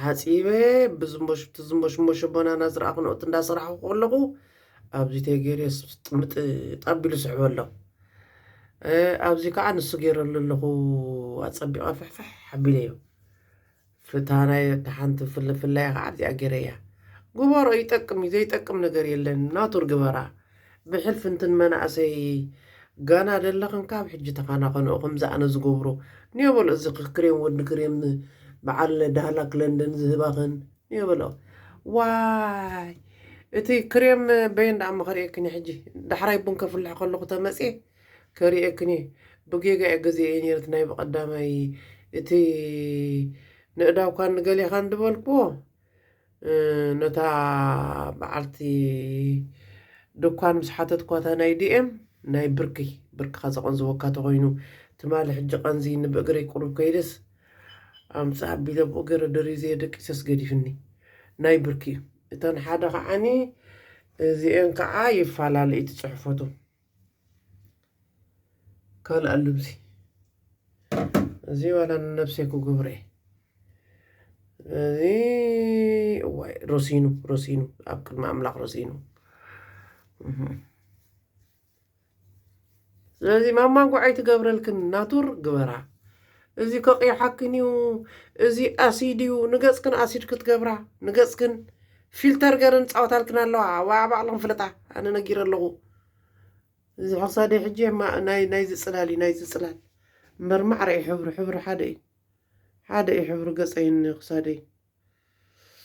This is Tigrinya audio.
ሓጺበ ብዝሞሽብቲ ዝሞሽሞሸ ቦናና ዝረኣኹ ነኡት እንዳሰራሕኹ ከለኹ ኣብዚ ተገይሩ ጥምጥ ጣቢሉ ስሕበ ኣሎ ኣብዚ ከዓ ንሱ ገይረሉ ኣለኹ ኣፀቢቐ ፍሕፍሕ ሓቢለዮ ፍታ ናይ ተሓንቲ ፍልፍላይ ከዓ ኣብዚኣ ገይረያ ግበሮ ይጠቅም እዩ ዘይጠቅም ነገር የለን ናቱር ግበራ ብሕልፊ እንትን መናእሰይ ጋና ደለኽን ካብ ሕጂ ተኻናኸንኦ ከምዚ ኣነ ዝገብሮ ንዮ በሎ እዚ ክሬም ወዲ ክሬም በዓል ዳህላክ ለንደን ዝህባኽን ንዮ በሎ ዋይ እቲ ክሬም በየን ደኣ እሞ ከርእየክን ሕጂ ዳሕራይ ቡን ከፍልሕ ከለኹ ተመጽየ ከርእየክን ብጌጋ እየ ገዚኤ ነይረት ናይ ብቀዳማይ እቲ ንእዳውካን ንገሌኻን ድበልክዎ ነታ በዓልቲ ዱኳን ምስ ሓተትኳታ ናይ ዲኤም ናይ ብርኪ ብርክኻ ዘቐንዝወካ ተኾይኑ ትማሊ ሕጂ ቀንዝይኒ ብእግረይ ቁሩብ ከይደስ ኣምጽእ ኣቢለ ብኡ ገይረ ደሪዘዮ ደቂሰስ ገዲፍኒ ናይ ብርኪ እዩ እተን ሓደ ከዓኒ እዚኤን ከኣ ይፋላለ እዩ ትጽሕፈቱ ካልእ ኣሎ እዚ እዚ ዋላ ንነብሰይ ክገብሮ እየ እዚ እዋይ ሮሲኑ ሮሲኑ ኣብ ቅድሚ ኣምላኽ ሮሲኑ ስለዚ ማማ ጉዓይ ትገብረልክን ናቱር ግበራ እዚ ከቕይሓክን እዩ እዚ ኣሲድ እዩ ንገፅክን ኣሲድ ክትገብራ ንገፅክን ፊልተር ገረን ፃወታልክን ኣለዋ ዋዕ ባዕልኽን ፍለጣ ኣነ ነጊረ ኣለኹ እዚ ክሳደይ ሕጂ ናይ ናይዚ ጽላል እዩ ናይዚ ጽላል እምበር ማዕረ እዩ ሕብሩ ሕብሩ ሓደ እዩ ሓደ እዩ ሕብሩ ገጸይን ክሳደይን።